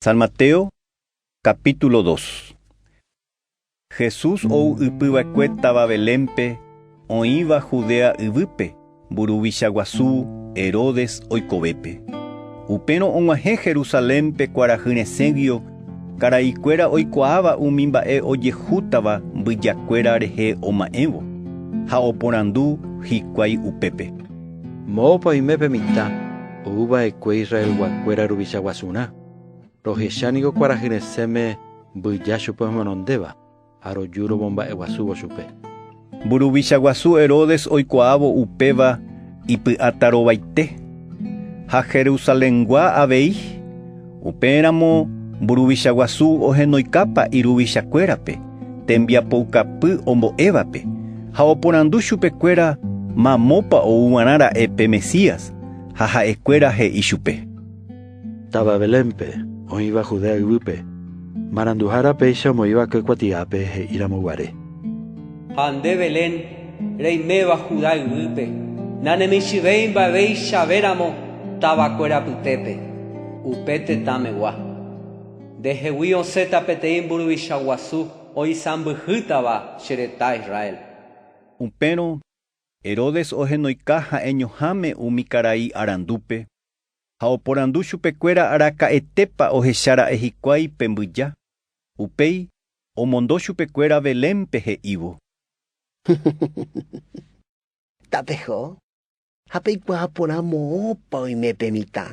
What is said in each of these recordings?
San Mateo, capítulo 2. Jesús ou ypy va'ekue táva Belénpe, oĩva Judea yvýpe, mburuvicha guasu Herodes oikovépe. Upérõ og̃uahẽ Jerusalénpe kuarahy resẽguio karai kuéra oikuaáva umi mba'e ojehútava mbyja kuéra rehe oma'ẽvo, ha oporandu hikuái upépe. Moõpa oime pe mitã ou va'ekue Israelguakuéra ruvicha guasurã, rohecha ningo kuarahy resẽme mbyja chupe ohenondéva ha roju romomba'eguasúvo chupe. Mburuvicha guasu Herodes oikuaávo upéva ipy'atarovaite, ha Jerusalengua avei. Upéramo mburuvicha guasu ohenoikápa iruvichakuérape tembiapoukapy ombo'évape, ha oporandu chupekuéra mamópa ou g̃uarã ra'e pe Mesías, ha ha'ekuéra he'i chupe: “Táva Belénpe, oĩva Judea yvýpe, maranduhára péicha omoĩva ke kuatiápe he'íramo guare. Ha nde Belén, reiméva Juda yvýpe, nanemichĩvéi mba'eveichavéramo tavakuéra apytépe, upe tetãmegua. Nde hegui osẽta peteĩ mburuvicha guasu oisãmbyhýtava che retã Israel. Upérõ Herodes ohenoika ha'eñoháme umi karai arandúpe, ha oporandu chupekuéra araka'etépa ohecha ra'e hikuái pe mbyja, upéi Omondo chupekuéra Belénpe he'ívo. Tapeho ha peikuaa porã moõpa oime pe mitã.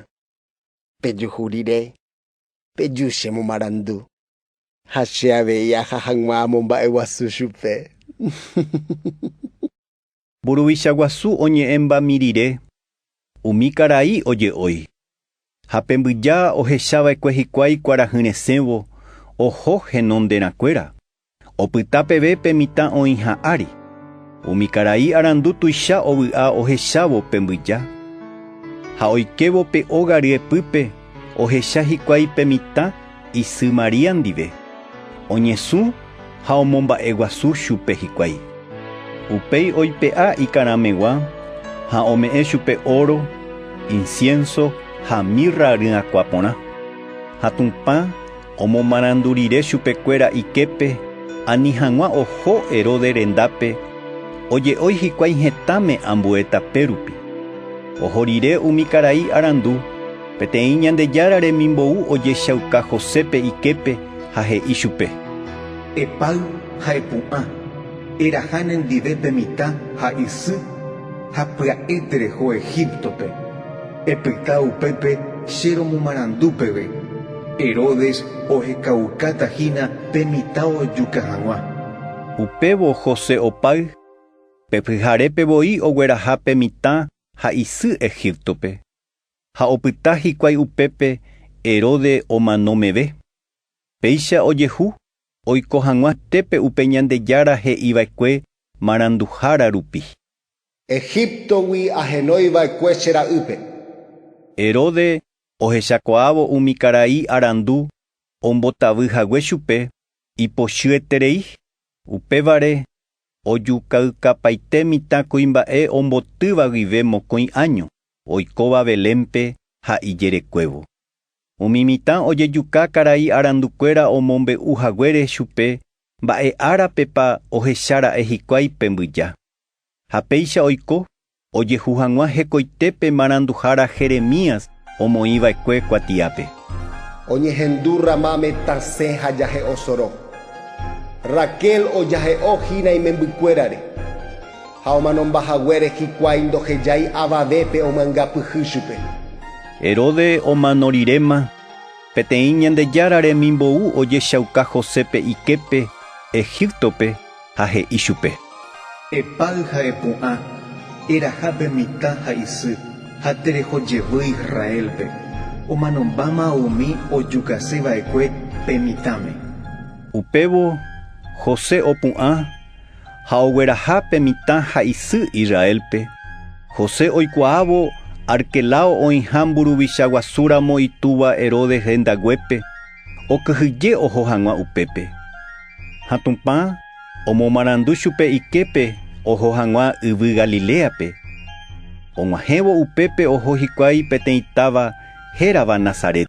Pejuhu rire, peju che momarandu, ha che avei aja hag̃ua amomba'eguasu chupe. Mburuvicha guasu oñe'ẽmba mirire, umi karai oje'ói. Ha pe mbyja ohechava'ekue hikuái kuarahy resẽvo oho henonderãkuéra, opyta peve pe mitã oĩha ári. Umi karai arandu tuicha ovy'a ohechávo pe mbyja. Ha oikévo pe óga ryepýpe, Ohecha hikuái pe mitã isy María ndive, oñesũ ha omomba'eguasu chupe hikuái. Upéi oipe'a ikarãmegua ha ome'ẽ chupe óro, insiénso ha mirra ryakuã porã. Ha Tupã Omomarandu rire chupekuéra iképe, ani hag̃ua oho Herodes rendápe, oje'ói hikuái hetãme ambue tapérupi. Oho rire umi karai arandu, peteĩ Ñandejára remimbou ojechauka Josépe iképe ha he'i chupe: Epáy ha epu'ã, eraha nendive pe mitã ha isy, ha pya'e tereho Egíptope. Epyta upépe che romomarandu peve, Herodes ohekaukáta hína pe mitã ojuka hag̃ua. Upévo José opáy, pe pyharépe voi ogueraha pe mitã ha isy Egíptope, ha opyta hikuái upépe Herode omano meve. Péicha ojehu oiko hag̃ua tépe upe Ñandejára he'iva'ekue maranduhára rupi. Egíptogui ahenói va'ekue che ra'ýpe. Herode ohechakuaávo umi karai arandu ombotavy hague chupe ipochyeterei, upévare ojukaykapaite mitã kuimba'e ombotýva guive mokõi áño oikóva Belénpe ha ijerekuévo. Umi mitã ojejuka karai arandukuéra omombe'u haguére chupe mba'e árapepa ohecha ra'e hikuái pe mbyja. Ha péicha oiko ojehu hag̃ua hekoite pe maranduhára Jeremías omoĩ va'ekue kuatiápe. Oñehendu Ramáme tasẽ ha jahe'o soro. Raquel ojahe'o hína imembykuérare, ha omanomba haguére hikuái ndohejái avavépe omanga pyhy chupe. Herode omano riréma, peteĩ Ñandejára remimbou ojechauka Josépe iképe Egíptope, ha he'i chupe. Epáy ha epu'ã, eraha pe mitã ha isy, ha tereho jevýi Israélpe, omanombáma umi ojukase va'ekue pe mitãme. Upévo José opu'ã ha ogueraha pe mitã ha isy Israélpe, José oikuaávo Arquelao oĩha mburuvicha guasúramo itúva Herodes rendaguépe okyhyje oho hag̃ua upépe. Ha Tupã omomarandu chupe iképe oho hag̃ua yvy Galiléape. Og̃uahẽvo upépe oho hikuái peteĩ táva hérava Nazaret.